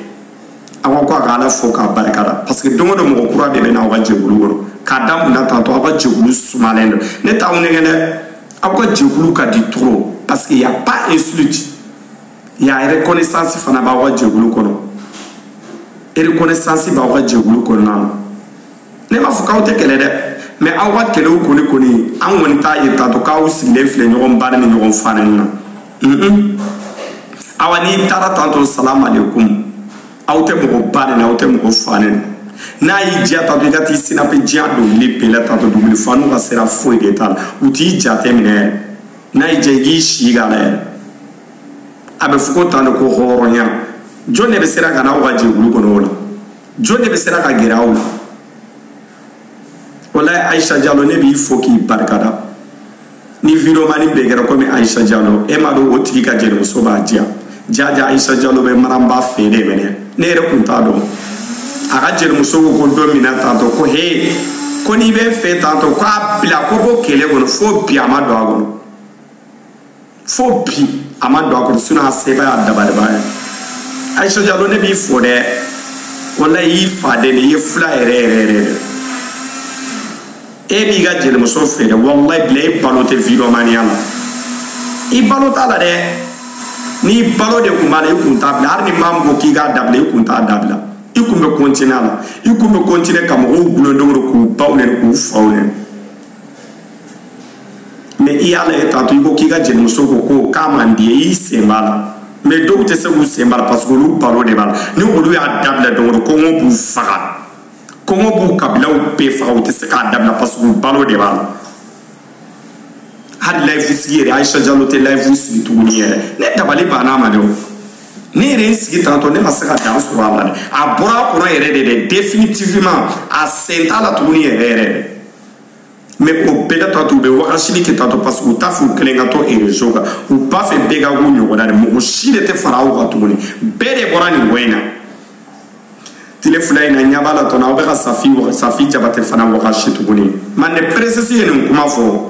aw ka ko a ka ala fo k'a barika da parce que don o don mɔgɔ kura de bɛ na aw ka jɛkulu kɔnɔ k'a da mun na tantɔ aw ka jɛkulu sumalen don ne t'aw nɛgɛ dɛ aw ka jɛkulu ka di trop parce que y a pas insulte y a reconnaissance fana b'aw ka jɛkulu kɔnɔ reconnaissance b'aw ka jɛkulu kɔnɔna na ne m'a fɔ k'aw tɛ kɛlɛ dɛ mais aw ka kɛlɛw kɔni kɔni an kɔni t'a ye tantɔ k'aw sigilen filɛ ɲɔgɔn ba nɛni ɲɔgɔn fa nɛni na awa n'i taara tantɔ salamu aleykum aw tɛ mɔgɔ ba nɛni na aw tɛ mɔgɔ fa nɛni na n'a y'i diya tantɔ i ka t'i sinape diya dɔnkili bɛɛ la tantɔ duguli fa n'u ka sira foyi de t'a la u t'i jate minɛ yɛrɛ n'a y'i diya i k'i si k'a la yɛrɛ a bɛ fɔ ko tan de ko hɔrɔnya jɔn de bɛ sera ka n'aw ka jɛkulu kɔnɔ o la jɔn de bɛ sera ka gɛrɛ aw la walayi ayisa jalo ne b'i fo k'i barikada ni videomani bɛɛ kɛra komi ayisa jalo e m'a dɔn o tigi ka jelimuso b'a diya jaja ayisa jalo bɛ maraba fɛ de mais ne ne yɛrɛ kun t'a dɔn a ka jelimuso ko ko don min na tantɔ ko he ko n'i bɛ fɛ tantɔ k'a bila ko bɔ kɛlɛ kɔnɔ fo bi a ma don a kɔnɔ fo bi a ma don a kɔnɔ sinon a se b'a ye daba de b'a ye ayisa jalo ne b'i fo dɛ walayi i fa de i ye fila yɛrɛ yɛrɛ yɛrɛ de e b'i ka jelimuso fɛ dɛ walayi bila e balo tɛ videomaniya la i balo t'a la dɛ n'i balo de kun b'a la i kun t'a bila hali ni maa min ko k'i k'a dabila i kun t'a dabila i kun bɛ continuer a la i kun bɛ continuer ka mɔgɔw gulondogoro k'u baw nɛni k'u faw nɛni mais i y'a lajɛ tantɔ i ko k'i ka jelimuso ko ko k'a man di ye i sen b'a la mais dɔw tɛ se k'u sen b'a la parce que olu balo de b'a la ni olu y'a dabila dɔrɔn kɔngɔ b'u faga kɔngɔ b'u kabilaw bɛɛ faga u tɛ se k'a dabila parce que u balo de b'a la hali layifu sigi yɛrɛ ayisa jalo tɛ layifu sigi tuguni yɛrɛ ne dabali banna ma dɛ o ne yɛrɛ n sigi tantɔ ne ma se ka dan sɔrɔ a la dɛ a bɔra a kɔnɔ yɛrɛ de dɛ définitivement a sen t'a la tuguni yɛrɛ yɛrɛ dɛ mais o bɛɛ la tantɔ u bɛ wakasili kɛ tantɔ parce que u t'a fɛ u kelen ka to réseau kan u b'a fɛ bɛɛ ka k'u ɲɔgɔnna de mɔgɔ si de tɛ fara aw kan tuguni bɛɛ de bɔra nin ko in na tile fila in na ɲɛ b'a la tɔnɔ aw bɛ ka safi safi jabate fana wakasi tuguni mande princesse ye nin kuma fɔ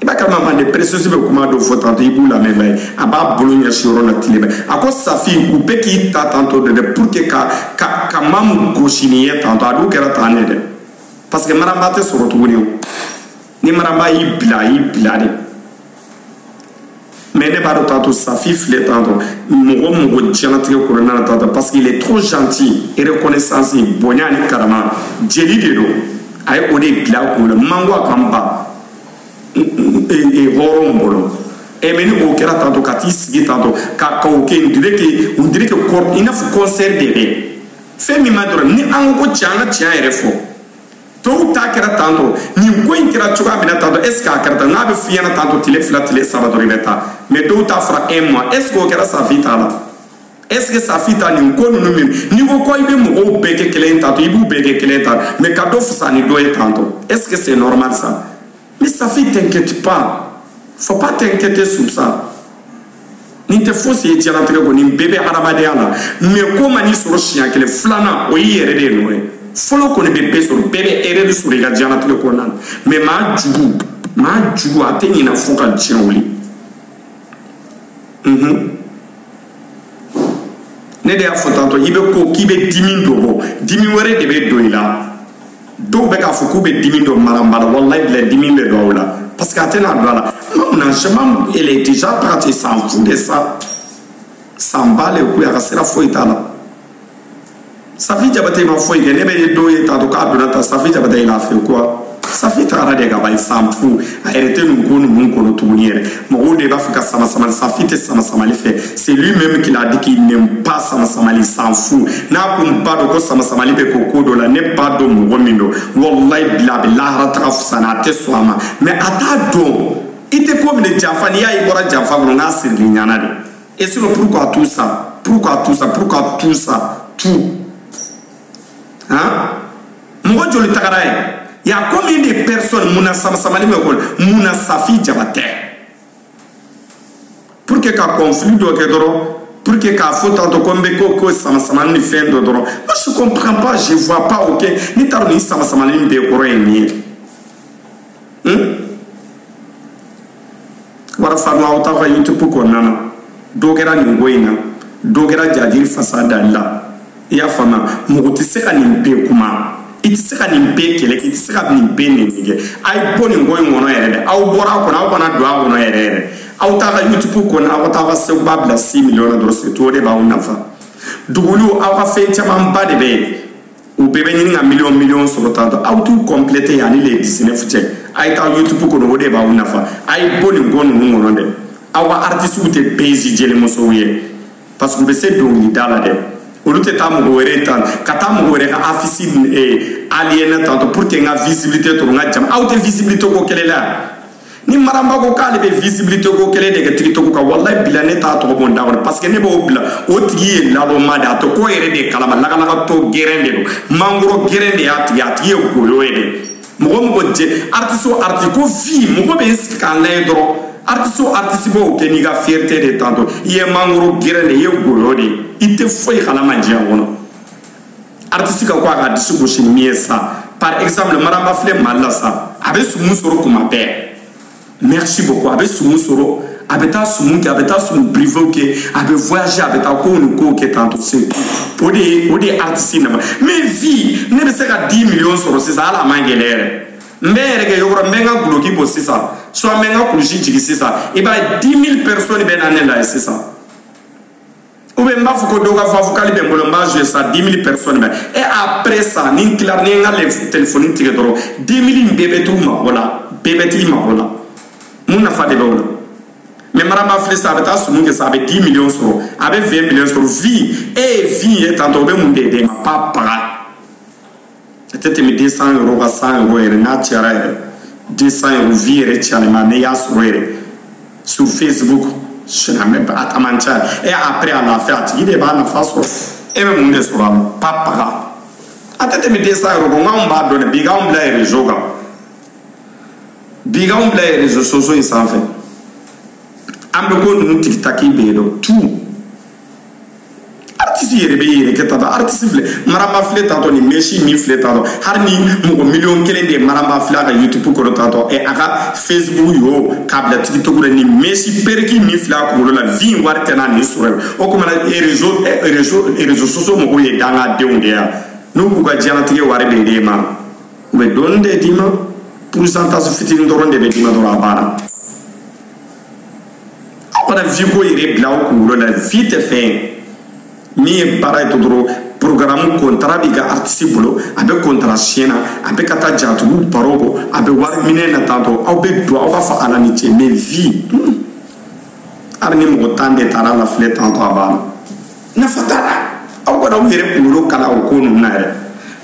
i b'a kalama mande princesse bɛ kuma dɔ fɔ tantɔ i b'u lamɛn b'a ye a b'a bolo ɲɛsin yɔrɔ la tile bɛ a ko safi u bɛ k'i ta tantɔ de dɛ pour que ka ka ka maa min gosi nin ye tantɔ a dun kɛra tan de dɛ parce que maraba tɛ sɔrɔ tuguni o ni maraba y'i bila a y'i bila de mais ne b'a dɔn tantôt safi filɛ tantôt mɔgɔ mɔgɔ diɲɛlatigɛ kɔnɔna na tantôt parce qu'il est trop gentil et reconnaissance bonya ni karama jeli de don a ye o de bila a kun na mango a kan ba hɔrɔnw bolo e mais ni o kɛra tantôt ka t'i sigi tantôt ka ka o kɛ on dirait que on dirait que i n'a fɔ concert de bɛ fɛn min ma dɔrɔn ni an ko ko tiɲɛ an ka tiɲɛ yɛrɛ fɔ tɔw ta kɛra tantôt nin ko in kɛra cogoya min na tantôt est ce que a kɛra tan n'a bɛ f'i ɲɛna tantôt tile fila tile saba dɔrɔn i bɛ taa mais dɔw ta fɔra un mois est ce que o kɛra safi ta la est ce que safi ta nin ko ninnu min n'i ko ko i bɛ mɔgɔw bɛɛ kɛ kelen ye tantôt i b'u bɛɛ kɛ kelen ye tan mais ka dɔ fisa ni dɔ ye tantôt est ce que c'est normal ça Mais Safi, t'inquiète pas. Faut pas t'inquiéter sur ça. nin tɛ fosi ye diɲɛlatigɛ kɔnɔ nin bɛɛ bɛ hadamadenya la mais ko man'i sɔrɔ siɲɛ kelen filanan o y'i yɛrɛ de ye nɔ ye fɔlɔ kɔni bɛ bɛɛ sɔrɔ bɛɛ bɛ erreur de sɔrɔ i ka diɲɛlatigɛ kɔnɔna na mais maa jugu maa jugu a tɛ ɲinɛ fo ka diɲɛ wuli ne de y'a fɔ tantôt i bɛ ko k'i bɛ dimi dɔ bɔ dimi wɛrɛ de bɛ don i la dɔw bɛ k'a fɔ k'u bɛ dimi don maramba la walayi bila dimi bɛ don aw la parce que a tɛna don a la malheureusement elle est déjà partie s'en fout de ça s'en bat les couilles a ka sira foyi t'a la safi jabate ma foyi kɛ ne bɛ dɔw ye tantôt k'a donna tan safi jabate il a fait quoi safi tagara de ka ban s'en fout a yɛrɛ tɛ nin ko ninnu kɔnɔ tuguni yɛrɛ mɔgɔw de b'a fɛ ka sama samali safi tɛ sama samali fɛ c'est lui même qui l'a dit qu'il n'aime pas sama samali s'en fout n'a kun b'a dɔn ko sama samali bɛ kɛ ko dɔ la ne b'a dɔn mɔgɔ min don walayi bila a bɛ lahara taga fisa na a tɛ sɔn a ma mais a t'a dɔn i tɛ ko minɛ janfa n'i y'a ye i bɔra janfa kɔnɔ n k'a sirili ɲana de Et sinon, pourquoi tout ça Pourquoi tout ça Pourquoi tout ça Tout. Hein Mɔgɔ joli tagara ye Il y a combien de personnes mun na samasamali bɛ k'o la mun na safi jabate pour que ka conflit dɔ kɛ dɔrɔn pour que k'a fɔ tantôt ko n bɛ ko ko samasamali ni fɛn dɔ dɔrɔn moi je comprends pas je vois pas ok ne t'a dɔn nin samasamali bɛɛ kɔrɔ ye min ye. wara faama aw t'aw ka youtube kɔnɔna na dɔ kɛra nin ko in na dɔ kɛra jajiri fasa dali la i y'a faamuya mɔgɔ tɛ se ka nin bɛɛ kuma i tɛ se ka nin bɛɛ kɛlɛ kɛ i tɛ se ka nin bɛɛ nɛni kɛ a ye bɔ nin ko in kɔnɔ yɛrɛ dɛ aw bɔra a kɔnɔ aw kana don a kɔnɔ yɛrɛ yɛrɛ aw t'a ka youtube kɔnɔ aw ka taa aw ka seguba bila six millions na dɔrɔn c'est tout o de b'aw nafa dugukolo aw ka fɛn camanba de bɛ yen u bɛɛ bɛ ɲini ka miliyɔn miliyɔn sɔrɔ tantôt aw t'u compléter yani le dix neuf cɛ a ye taa yutubu kɔnɔ o de b'aw nafa a ye bɔ nin ko ninnu kɔnɔ dɛ aw ka aritisiw tɛ pezi jelimusow ye parce que u bɛ se dɔnkilida la dɛ olu tɛ taa mɔgɔ wɛrɛ tan ka taa mɔgɔ wɛrɛ ka affiche aligner tantôt pour que n ka visibilité sɔrɔ n ka jama aw tɛ visibilité ko kɛlɛ la ni maramba ko k'ale bɛ visibilité ko kɛlɛ de kɛ tikitɔku kan walayi bila ne t'a tɔgɔ bɔ n da kɔnɔ parce que ne b'o bila o tigi ye naloma de a tɛ ko yɛrɛ de kalama lagalagatɔ gɛrɛn de don mangoro gɛrɛn de y'a tigi a tigi ye goyo ye de mɔgɔ o mɔgɔ jɛ artiste o artiste ko vie mɔgɔ bɛ sigi ka n lajɛ dɔrɔn artiste o artiste b'o kɛ n'i ka fierté de tantôt i ye mangoro gɛrɛn de i ye goyo de ye i tɛ foyi kalama diɲɛ kɔnɔ artiste ka ko a ka disi gosi min ye sa par exemple mariam ba filɛ mali la sa a bɛ sumu sɔrɔ kuma bɛɛ merci beaucoup a bɛ sumu sɔrɔ a bɛ taa sumu kɛ a bɛ taa sumu privéw kɛ a bɛ voyager a bɛ taa kow ni kow kɛ tantɔ c'est o de ye o de ye artiste nafa mais vue ne bɛ se ka 10 million sɔrɔ sisan hali a man gɛlɛ yɛrɛ n bɛ n yɛrɛ kɛ yɔrɔ n bɛ n ka duloki bɔ sisan soit n bɛ n ka kulusi jigin sisan i b'a ye 10 000 personnes bɛ na ne lajɛ sisan ou bien n b'a fɔ ko dɔ ka fa vocal bɛ n bolo n b'a joué sa 10 000 personnes bɛ et après ça ni n tilara ni n ka téléphone tigɛ dɔrɔn 10 000 in bɛɛ bɛ t'u mago la bɛɛ bɛ t'i mago la mun nafa de bɛ o la mais mariam ba filɛ sa a bɛ taa sumu kɛ sa a bɛ 10 millions sɔrɔ a bɛ 20 millions sɔrɔ vue e ye vue ye tantɔ o bɛ mun de d'e ma pa paga a tɛ tɛmɛ 200 euros kan 100 euros yɛrɛ n'a cayara yɛrɛ 200 euros vue yɛrɛ cayalima ne y'a sɔrɔ yɛrɛ sur facebook sinamɛ a ta man ca e après à la fin a tigi de b'a nafa sɔrɔ e bɛ mun de sɔrɔ a la pa paga a tɛ tɛmɛ 200 euros kan nka anw b'a dɔn dɛ bi k'anw bila ye réseau kan bi k'anw bila ye réseaux sociaux in sanfɛ an bɛ ko ninnu tikitaki bɛɛ dɔn tout aritisi yɛrɛ bɛ yɛrɛ kɛ tatɔ aritisi filɛ mariam ba filɛ tatɔ ni mɛsi min filɛ tatɔ hali ni mɔgɔ miliyɔn kelen de ye mariam ba filɛ a ka yutubu kɔrɔ tatɔ ɛ a ka fesibuku yo k'a bila tikitɔku la ni mɛsi pereki min filɛ a kunkolo la vue in wari tɛna nin sɔrɔ ye o kuma na rezo rezo rezo sosiyo mɔgɔw ye dangadenw de yan n'u k'u ka diɲɛlatigɛ wari bɛ d'e ma u bɛ dɔɔni de d'i ma pourcentage fitinin dɔrɔn de bɛ d'i ma dɔrɔn a banna aw kana vue ko yɛrɛ bila aw kunkolo la vue tɛ fɛn ye min ye baara ye to dɔrɔn programme kontara b'i ka artiste bolo a bɛ kontara siɲɛ na a bɛ ka taa jatigiw baro bɔ a bɛ wari minɛ na tantɔ aw bɛ don aw k'a fɔ ala ni ce mais vue hali ni mɔgɔ tan de taara lafilɛ tantɔ a b'a la nafa t'a la aw kana aw yɛrɛ kunkolo kala o ko ninnu na yɛrɛ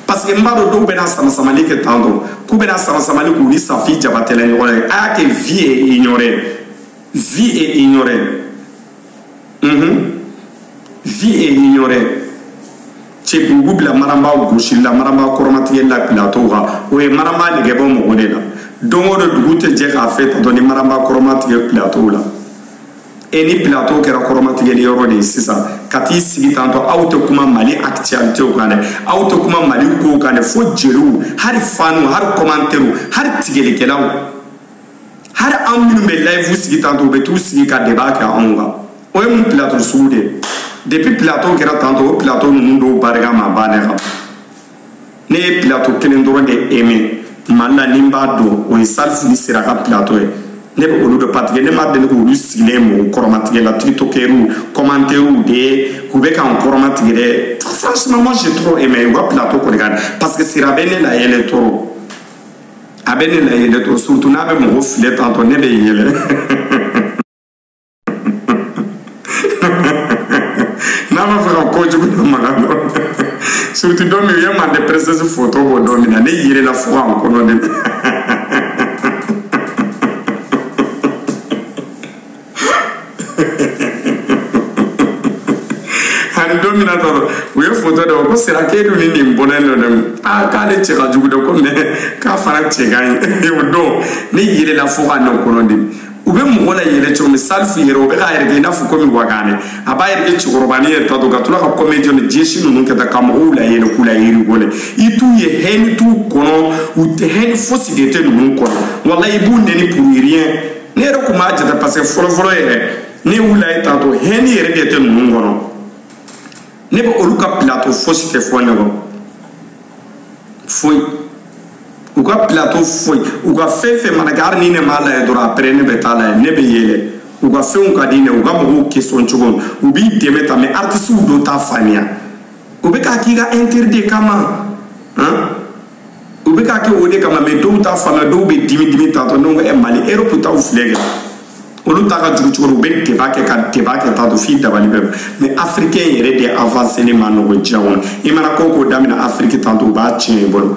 parce que n b'a dɔn dɔw bɛna samasamali kɛ tantɔ k'u bɛna samasamali k'u ni safi jabatɛlɛ ɲɔgɔn ye a y'a kɛ vue ye ignoré vue ye ignoré unhun vue ye ignoré c'est o b'u bila mariam ba gosili la mariam ba kɔrɔmatigɛli la pilato kan o ye mariam ba nege bɔ mɔgɔ de la don o don dugu tɛ jɛ k'a fɛ tantɔ ni mariam ba kɔrɔmatigɛ pilato la e ni pilato kɛra kɔrɔmatigɛli yɔrɔ de ye sisan ka t'i sigi tantɔ aw tɛ kuma mali actualitéw kan dɛ aw tɛ kuma mali kow kan dɛ fo jeliw hali fanw hali kɔmantɛriw hali tigɛlikɛlaw hali an minnu bɛ layifu sigi tantɔ u bɛ t'u sigi ka deba kɛ anw kan o ye mun pilato sugu de ye depuis pilato kɛra tantɔ o pilato ninnu dɔw barika ma ban ne kan ne ye plateau kelen dɔrɔn de aimé mali la ni n b'a dɔn o ye salifu ni sira ka plateau ye ne bɛ olu de partager ne ma deli k'olu sigilen mɔgɔ kɔrɔmatigɛ la tiktokɛriw kɔmantɛriw de k'u bɛ k'an kɔrɔmatigɛ dɛ franchement moi j'ai trop aimé u ka plateau kɔni ka ɲi parce que sira bɛ ne layɛlɛ trop a bɛ ne layɛlɛ trop surtout n'a bɛ mɔgɔ filɛ tantɔ ne bɛ yɛlɛ n'a b'a fɛ ka ko jugu dɔ maka dɔrɔn surtout don min u ye mande princesse foto bɔ don min na ne yɛlɛla fo ka n kɔnɔ dimi ani don min na dɔrɔn u ye foto dɔ ko sira k'e dun ni nin bɔlen don dɛ aa k'ale cɛ ka jugu dɛ ko mais k'a fana cɛ ka ɲi o don ne yɛlɛla fo ka ne kɔnɔ dimi u bɛ mɔgɔ layɛlɛ cogo min salifu yɛrɛ o bɛ k'a yɛrɛ kɛ i n'a fɔ komi wagane a b'a yɛrɛ kɛ cɛkɔrɔbani ye tantɔ ka tila ka kɔmɛdi ni geste ninnu kɛ ta ka mɔgɔw layɛlɛ k'u la rigoler i t'u ye haine t'u kɔnɔ u tɛ haine fosi de tɛ ninnu kɔnɔ walayi i b'u nɛni pour rien ne yɛrɛ tun b'a jate parce que fɔlɔfɔlɔ yɛrɛ ne y'u lajɛ tantɔ haine yɛrɛ de tɛ ninnu kɔnɔ ne bɛ olu ka plateau fosi tɛ fɔ ne kɔ foyi u ka plateau foyi u ka fɛn fɛn mana kɛ hali ni ne m'a lajɛ dɔrɔn après ne bɛ t'a lajɛ ne bɛ yɛlɛ u ka fɛnw ka di n ye u ka mɔgɔw question cogo u b'i dɛmɛ ta mais artisiw dɔw t'a faamuya u bɛ k'a k'i ka intérêt de kama han u bɛ k'a kɛ o de kama mais dɔw t'a faamuya dɔw bɛ dimi dimi tantɔ ne ko ɛ mali erɔpu taw filɛ kɛ olu ta ka jugu cogo u bɛ débat kɛ ka débat kɛ tantɔ f'i dabali ban mais afirikɛn yɛrɛ de avanseli man nɔgɔn diɲɛ kɔnɔ i mana ko ko daminɛ afiriki tantɔ u b'a tiɲɛ i bolo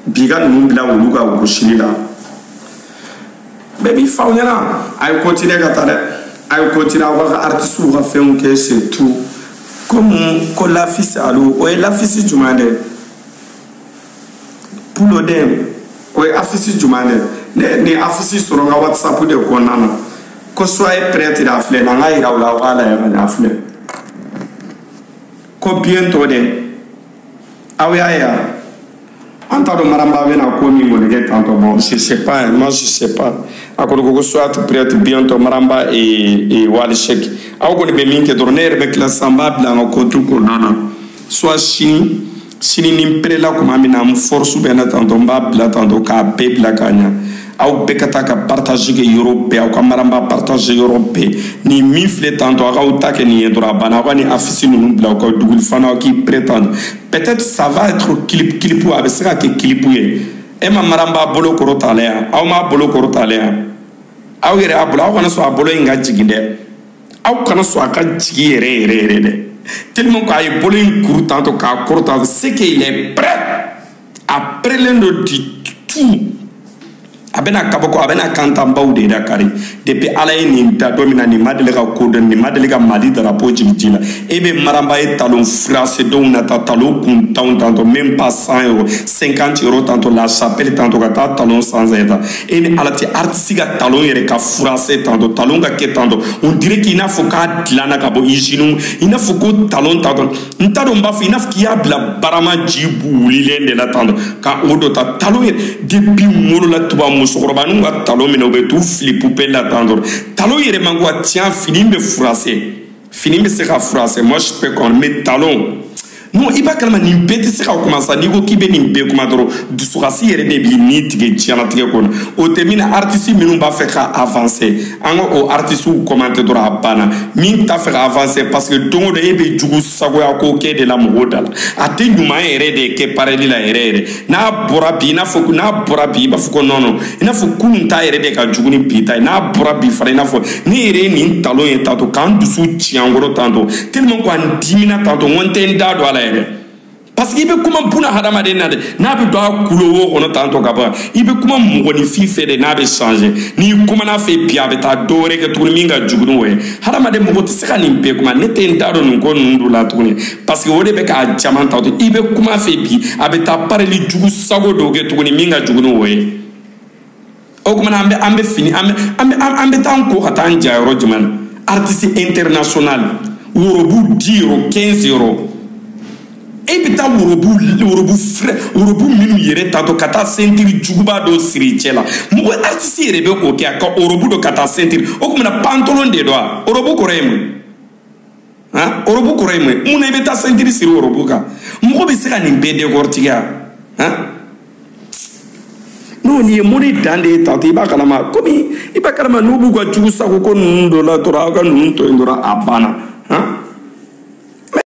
bi ka ninnu bila olu ka gosili la bɛɛ b'i faw ɲɛna a ye continuer ka taa dɛ a ye continuer aw ka artisiw ka fɛnw kɛ c'est tout komi ko l'affiche alo o ye l'affiche jumɛn dɛ pulo dɛ o ye affiche jumɛn dɛ ne nin affiche sɔrɔ n ka whatsapp de kɔnɔna na ko soyez prêts a filɛ na n k'a yira aw la aw k'a lajɛ ka ɲɛ a filɛ ko bientôt dɛ aw y'a ye wa an t'a dɔn mariam ba bɛna ko min kɔni kɛ tantɔ bɔn je sais pas hein, moi je sais pas a kɔni ko ko soyez prêts bientôt mariam ba et et wally seck aw kɔni bɛ min kɛ dɔrɔn ne yɛrɛ bɛ tila sisan n b'a bila an ka compte kɔnɔna na soit sini sini ni n perela kuma min na n force bɛ na tantɔ n b'a bila tantɔ k'a bɛɛ bila ka ɲa aw bɛɛ ka taa ka partage kɛ yɔrɔ bɛɛ aw ka mariam ba partage yɔrɔ bɛɛ ni min filɛ tantɔ aw k'aw ta kɛ nin ye dɔrɔn a banna aw ka nin affiche ninnu bila aw ka duguli fana aw k'i pere tantɔ peut-être ça va être clip clip a bɛ se ka kɛ clip ye e ma mariam ba bolo kɔrɔtalen yan aw m'a bolo kɔrɔtalen yan aw yɛrɛ a bolo aw kana sɔn a bolo in ka jigin dɛ aw kana sɔn a ka jigin yɛrɛ yɛrɛ yɛrɛ dɛ tellement ko a ye bolo in kuru tantɔ k'a kɔrɔ tantɔ c'est que il est prêt a perelen don du tout a bɛna kabako a bɛna kantanbaw de da kari depuis ala ye nin da don min na nin ma deli ka ko dɔn nin ma deli ka mali darapo jigin ji la e bɛ mariam ba ye talon froissé dɔw na ta talon kuntanw tantɔ même pas 100 euro 50 euro tantɔ la chapelle tantɔ ka taa talon 100 euro ta e ni ala tɛ aritisi ka talon yɛrɛ ka froissé tantɔ talon ka kɛ tantɔ on dirait k'i n'a fɔ k'a dilanna ka bɔ izini i n'a fɔ ko talon tantɔ n t'a dɔn n b'a fɔ i n'a fɔ k'i y'a bila barama ji wulilen de la tantɔ ka o dɔ ta talon yɛrɛ depi wolo la tubabu musokɔrɔbaninw ka talon minɛ u bɛ t'u fili pubɛli la tantɔ talon yɛrɛ man kan ka tiɲɛ fini bɛ froissé fini bɛ se ka froissé moi je peux comprendre mais talon non i b'a kalama nin bɛɛ tɛ se ka kuma sa n'i ko k'i bɛ nin bɛɛ kuma dɔrɔn dusukasi yɛrɛ de b'i ni tigɛ diɲɛnatigɛ kɔnɔ o tɛ min na artiste minnu b'a fɛ ka avancer an ka o artistew commenter dɔrɔn a banna min t'a fɛ ka avancer parce que don o don e bɛ jugu sagoya ko kɛ de la mɔgɔw da la a tɛ ɲuman yɛrɛ de kɛ pareli la yɛrɛ yɛrɛ n'a bɔra bi i n'a fɔ n'a bɔra bi i b'a fɔ ko non non i n'a fɔ kunun ta yɛrɛ de ka jugu ni bi ta ye n'a bɔra bi fana i n'a fɔ ne yɛrɛ ye nin talon ye tantɔ k'an dusu ci an kɔrɔ tantɔ tellement ko an dimina tantɔ n ko n tɛ n da don a la yɛrɛ parce que i bɛ kuma buna hadamaden na de n'a bɛ don a kulo wo kɔnɔ tantɔ ka ban i bɛ kuma mɔgɔninfin fɛ de n'a bɛ changer n'i kumana a fɛ bi a bɛ taa dɔ wɛrɛ kɛ tuguni min ka jugu n'o ye hadamaden mɔgɔ tɛ se ka nin bɛɛ kuma ne tɛ n da don nin ko ninnu dɔ la tuguni parce que o de bɛ k'a caman tantɔ i bɛ kuma a fɛ bi a bɛ taa pareli jugu sago dɔw kɛ tuguni min ka jugu ni o ye o tuma na an bɛ an bɛ fini an bɛ an bɛ an bɛ taa an ko ka taa an ja yɔrɔ jumɛn na artiste international worobu 10 euro 15 euro e bɛ taa worobu worobu fɛrɛ worobu minnu yɛrɛ tantɔ ka taa sentiri juguba dɔ siri cɛ la mɔgɔ artiste yɛrɛ bɛ o kɛ a ka worobu don ka taa sentiri o tuma na pantalon de don wa worobu kɔrɔ ye mun han ɔrɔbu kɔrɔ ye mun ye mun na i bɛ taa sentiri siri ɔrɔbu kan mɔgɔ bɛ se ka nin bɛɛ décortiquer han n'o nin ye mori dan de ye tantɔ i b'a kalama komi i b'a kalama n'u b'u ka jugu sago ko ninnu dɔ la dɔrɔn aw ka ninnu to yen dɔrɔn a banna han